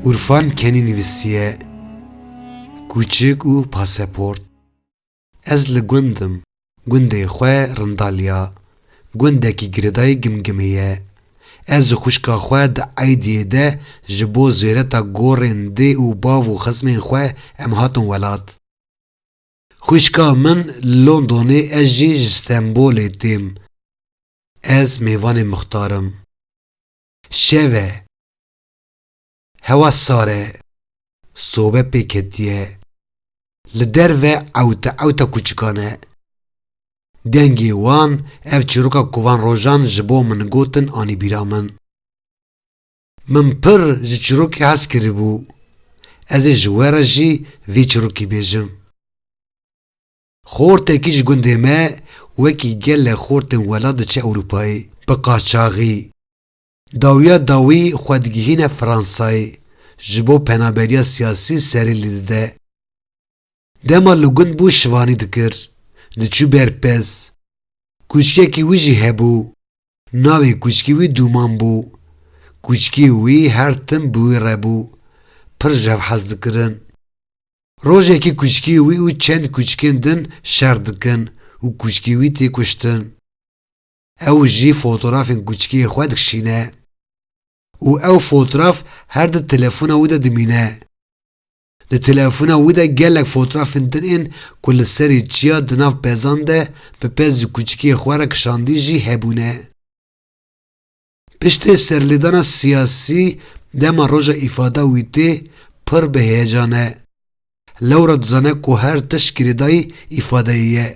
Urfan Kenî nivîsiye, Kûçik û paseport Ez li gund im. Gundê xwe Rindaliya, gundekî girêdayî Gimgimê ye. Ez û xwişka xwe di eydiyê de ji bo zêreta gorên dê û bav û xizmên xwe em hatin welat. Xwîşka min li Londonê ez jî ji Stenbolê têm. Ez mêvanê Mixtar im. Şev e. Hewa sar e. Sobe pê ketiye. Li derve ewte ewta kûçikan e. Dengê wan, ev çîroka ku van rojan ji bo min gotin anî bîra min. Min pir ji çirokê hez kiribû. Ez ê ji we re jî vê çirokî bêjim. Xortekî ji gundê me wekî gelek xortên welat diçe Ewropayê, bi qaçaxî. Dawiya dawî xwe digihîne Fransayê, ji bo penaberiya siyasî serê li dide. Dema li gund bû şivanî dikir, diçû ber pez. Kûçkekî wî jî hebû. Navê kûçkî wî Dûman bû. Kûçkî wî her tim bi wî re bû. Pir ji hev hez dikirin. Rojekî kûçkî wî û çend kûçikên din şer dikin û kûçkî wî tê kuştin. Ew jî fotorafên kûçikiyê xwe dikişîne. Û ew fotoraf her di telefona wî de dimîne. Di telefona wî de gelek fotrafên din ên ku li serî çiya di nav pezan de bi pez ji kûçikiyê xwe re kişandî jî hebûne. Piştê serlêdana siyasî dema roja îfada wî tê pir bi heyecan e. Lewra dizane ku her tişt girêdayî îfadeyê ye.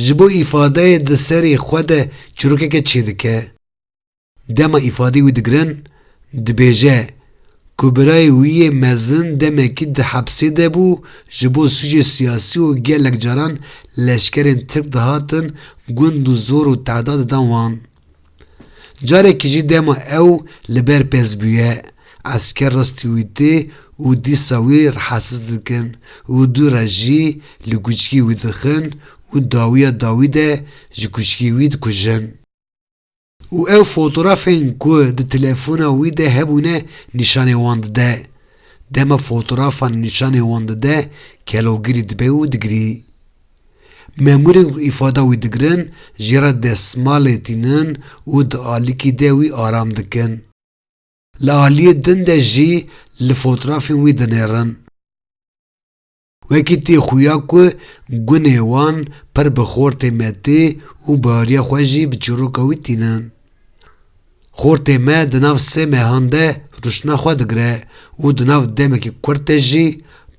Ji bo îfadeyê di serê xwe de çîrokeke çêdike. Dema îfadeyê wî digirin, dibêje ku birayê wî yê mezin demekî di hepsê de bû ji bo sûcê siyasî û gelek caran leşkerên Tirk dihatin gund û zor û tehda didan wan. Carekî jî dema ew li ber pez bûye, esker rastî wî tê û dîsa wî rehasiz dikin û du re jî li kûçikî wî dixin û dawiya dawî de ji kûçikî wî dikujin. Û ew fotorafên ku di telefona wî de hebûne nîşanê wan dide. Dema fotorafan nîşanê wan dide, kelogirî dibe û digirî. Memûrên ku îfada wî digirin jê re destmalê tînin û di alîkî de wî aram dikin. Li aliyê din de jî li fotrafên wî dinêrin. Wekî tê xuya ku gunê wan pir bi xortê me tê û bariya xwe jî bi çîroka wî tînin. Xortê me di nav sê mehan de rûştina xwe digire û di nav demekî kurt de jî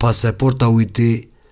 paseporta wî tê.